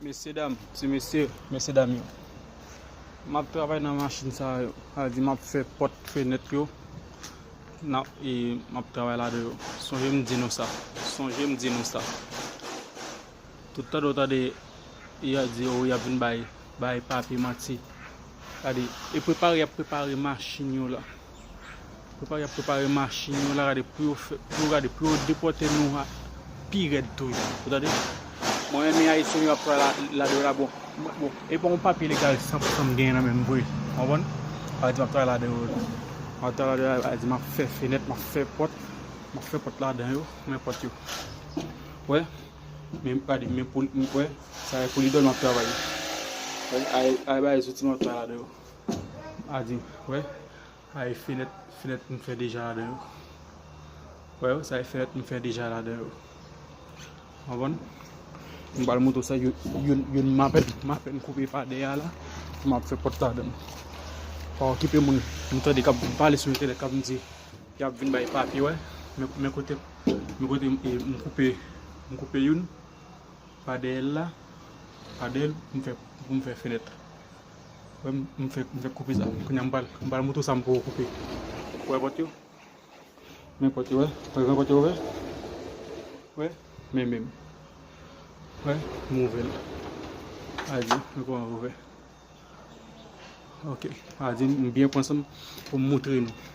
Mesye dam, ti mesye, mesye dam yo. Map travay nan machin sa yo. Sa vle di map fè pòt fenèt yo. Nan e map travay ladan yo. Sonje m di nou sa. Sonje m di nou sa. Tout tande ou tande y a di ou y ap vin bay bay papye manti. Gade, e prepare y ap prepare machin yo la. Prepare ap prepare machin yo la gade pou yo fè, pou yo gade pou yo depote nou ha pi red tou yo. Ou tande? Mwen renmen Haïtien yo ap pran la la de la bon. Bon, e pa yon papye legal 100% m genyen nan menm vre. Konprann? Al di m ap travay la de yo. Al travay la de yo, al di m ap fè fenèt, m ap fè pòt, m ap fè pòt la dan yo, men pòt yo. Wè? Men gade, men pou m wè, sa e pou li do m ap travay. Wè, al bay zouti m ap travay la de yo. Adi m, wè, sa e fenèt, fenèt m fè deja ladan yo. Wè yo, sa e fenèt m fè deja ladan yo. Anvan, m bal moutou sa, yon m apèn, m apèn koupe pa de ya la, m ap fè pòt ladan. Pa okipe moun, m tande kap m pale sou entènèt, kap m di, yap vin bay papye wè, men kote, men kote m koupe, m koupe yon, pa de ya la, pa de ya, m fè, m fè fenèt. M fèk koupe sa. Kounye a m pral moute sa m poko koupe. Wè pòt yo? Men pòt yo wè? Wè gran pòt yo ouvè? Wè? Men menm. Wè? M ouvè l. A di, men kouman l ouvè. Ok. A di m byen pran san m pou m moutre nou.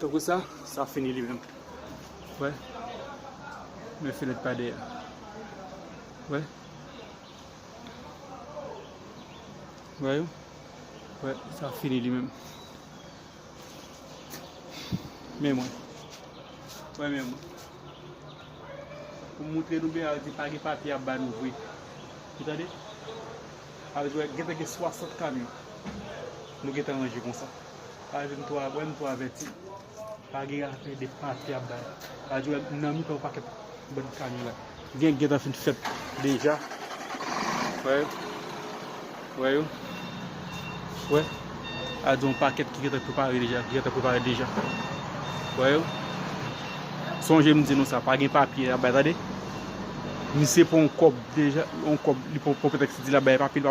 Tan kou sa, sa fini li menm. Wè. Men fenèt pa deyè. Wè. Wè yo. Wè, sa fini li menm. Men mwen. Wè men mwen. Pou moutre nou bè a, di pa gen papye a ba nou vwe. Ou tande? Sa vle di gentan gen 60 kamyon nou gentan ranje konsa. Sa vle di nou wè nou tou avèti. Pa gen afè de pati y ap bay. Sa vle di nan mitan yon pakèt bann kamyon la. Gen gentan fin fèt deja. Wè yo. Wè yo. Wè. Sa vle di yon pakèt ki gentan prepare deja. Ki gentan prepare deja. Wè yo. Sonje m di nou sa. Pa gen papye y ap bay tande. Misye pran yon kob deja, yon kob li pran pou pretex li di lap bay epa pil pa.